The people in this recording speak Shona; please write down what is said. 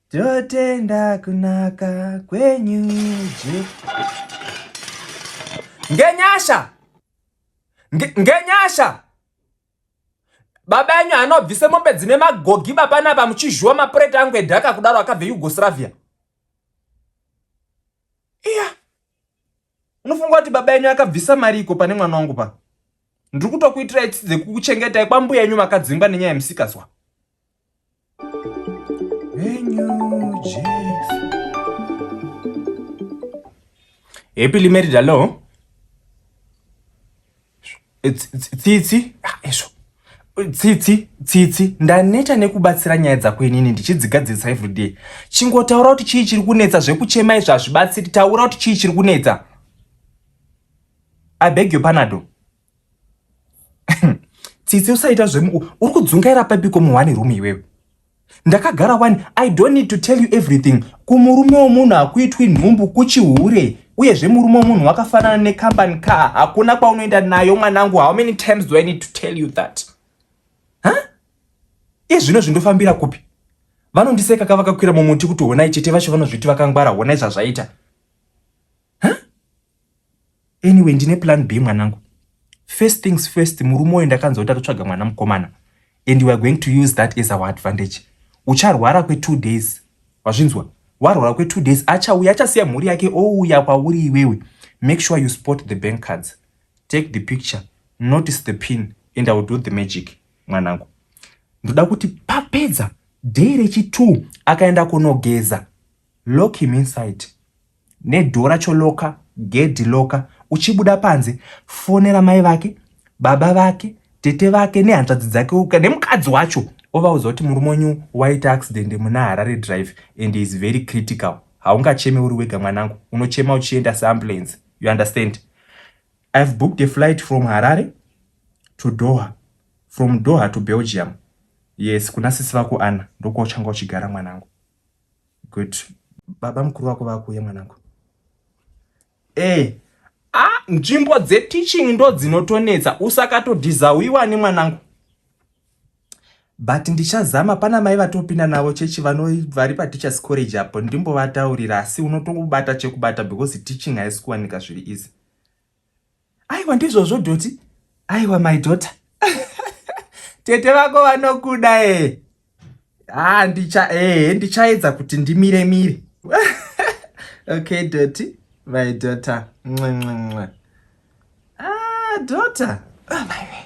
Totenda kunaka kwenyu Ngenyasha Ngenyasha Baba enyu anobvise mombe dzine magogi bapana apa muchizhuwa mapureti angu edhaka kudaro akabve Yugoslavia. Iya. Yeah. unofunga kuti baba yenyu akabvisa mari iko pane mwana wangu pa ndiri kutokuitirai tsitsi dzekukuchengetai kwambuya yenyu makadzingwa nenyaya yemusikazwa happily married alone tsitsi izvo tsitsi tsitsi ndaneta nekubatsira nyaya dzako inini ndichidzigadzirisa everyday chingotaura kuti chii chiri kunetsa zvekuchema izvo hazvibatsiri taura kuti chii chiri kunetsa i beg your panado tsitsi usaita zvemu uri kudzungaira pepiko muhwani room iwewe ndakagara wani i don't need to tell you everything kumurume womunhu hakuitwi nhumbu kuchihure uyezve murume womunhu wakafanana necompany car hakuna kwaunoenda nayo mwanangu how many times do i need to tell you that huh? iye zvino zvindofambira kupi vanondiseka kavakakwira mumuti kuti honai chete vacho vanozviti vakangwara honai zvazvaita huh? anyway ndine plan b mwanangu first things first murume uyo ndakanzwa kuti atotsvaga mwana mukomana and you are going to use that as our advantage ucharwara kwetwo days wazvinzwa warwara kwetwo days achauya achasiya mhuri yake ouya kwauri iwewe make sure you spot the bank cards take the picture notice the pin and i will do the magic mwanangu ndoda kuti papedza day rechi2 akaenda kunogeza Lock him inside nedhoo racho loka gedhi loka. Uchibuda panze fonera mai vake, baba vake, tete vake nehanzvadzi dzake uka nemukadzi wacho ovaudza kuti murume wenyu waita accident muna Harare Drive and is very critical. Haungacheme uri wega mwanangu, unochema uchienda seambulance. You understand? I have booked a flight from Harare to Doha, from Doha to Belgium. Yes, kuna sisi vako Anna ndokwauchanga uchigara mwanangu. Good. Baba mukuru wako vakuuya mwanangu. Eh, ah, nzvimbo dzeteaching ndo dzinotonetsa usakatodhizawiwa ne mwanangu. But ndichazama pana mai vatopinda navo chechi vano vari pa teachers college apo ndimbovataurira asi unotobata chekubata because teaching haisi kuwanika zviri easy. aiwa ndizvozvo dhoti aiwa my daughter tete vako vanokuda e ha ndicha e ndichaedza kuti ndimire mire okay dhoti my daughter nxenxenxe ah daughter oh my way